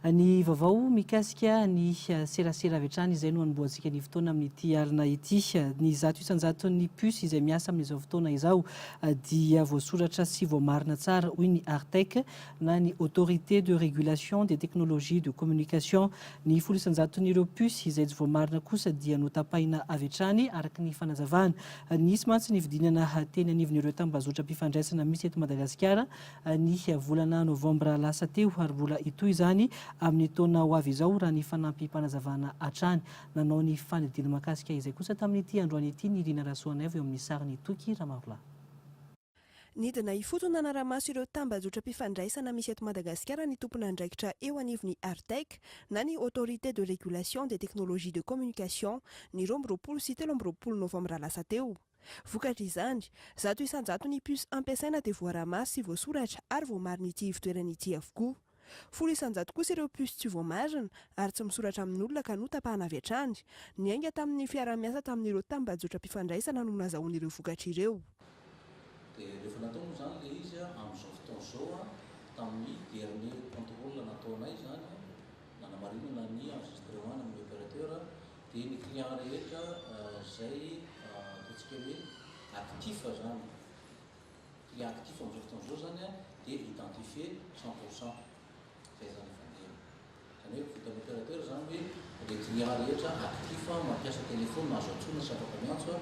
Ny vaovao mikasika ny serasera avy hatrany izay no hanombohantsika ny fotoana amin'ity alina ity. Ny zato isan-jaton'ny puces izay miasa amin'izao fotoana izao dia voasoratra sy voamarina tsara, hoy ny Artec, na ny Autorité de régulation des technologies de communication. Ny folo isan-jaton'ireo puces izay tsy voamarina kosa dia notapahina avy hatrany, araka ny fanazavana. Nisy mantsy ny fidinana teny anivon'ireo tambazotram-pifandraisana misy eto Madagasikara ny volana novambra lasa teo ary mbola hitohy izany amin'ny taona ho avy izao, raha ny fanampim-panazavana hatrany. Nanao ny fanadihadiana mahakasika izay kosa tamin'ity androany ity ny Rina Rasoanaivo eo amin'ny sarin'i Toky Ramarola. Nidina ifotony nanara-maso ireo tambajotram-pifandraisana misy eto Madagasikara ny tompon'andraikitra eo anivon'ny Artec na ny Autorité de Régulation des Technologies de Communication, ny roa amby roapolo sy telo amby roapolo novambra lasa teo. Vokatr'izany, zato isan-jato ny puce ampiasaina dia voaraha-maso sy voasoratra ary voamarin'ity ivotoerana ity avokoa. Folo isan-jato kosa ireo puces tsy voamarina ary tsy misoratra amin'olona ka notapahana avy hatrany. Niainga tamin'ny fiaraha-miasa tamin'ireo tambajotram-pifandraisana no nazahoana ireo vokatra ireo. Dia rehefa natao moa izany ilay izy amin'izao fotoana izao, tamin'ny dernier contrôle nataonay izany, nanamarinana ny enregistrement-ny amin'ny opérateur, dia ny clients rehetra izay ataontsika hoe actifs izany, cliente ity fa amin'izao fotoana izao izany dia identifier cent pour cent izay izany efa niely. Izany hoe vitan'ny opérateur izany hoe ilay client rehetra actif mampiasa téléphone azo antsoina sy afaka miantso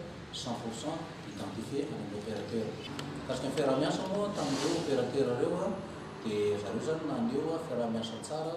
cent pour cent identifier any amin'ny opérateur. Mikasika ny fiaraha-miasa moa tamin'ireo opérateur ireo dia zareo izany naneho fiaraha-miasa tsara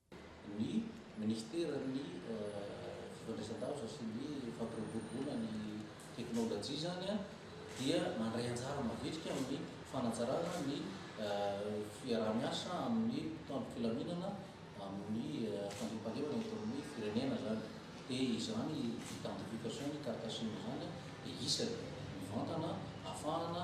ny Minisiteran'ny Fifandraisandavitra sy ny Fampiroboroboana ny Teknolojia izany dia mandray anjara mavitrika amin'ny fanatsarana ny fiaraha-miasa amin'ny mpitandro filaminana amin'ny fandriampahalemana eto amin'ny firenena izany dia izany identification-ny, carte sim izany dia isany mivantana ahafahana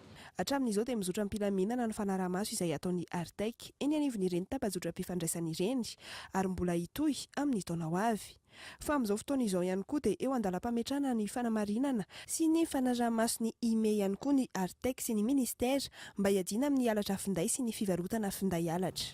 Hatramin'izao dia mizotra am-pilaminana ny fanaraha-maso izay ataon'ny Artec eny anivon'ireny tapa-jotram-pifandraisana ireny ary mbola hitohy amin'ny taona ho avy. Fa amin'izao fotoana izao ihany koa dia eo an-dalam-pametrahana ny fanamarinana sy ny fanaraha-maso ny IME ihany koa ny Artec sy ny Ministera mba hiadiana amin'ny halatra finday sy ny fivarotana finday halatra.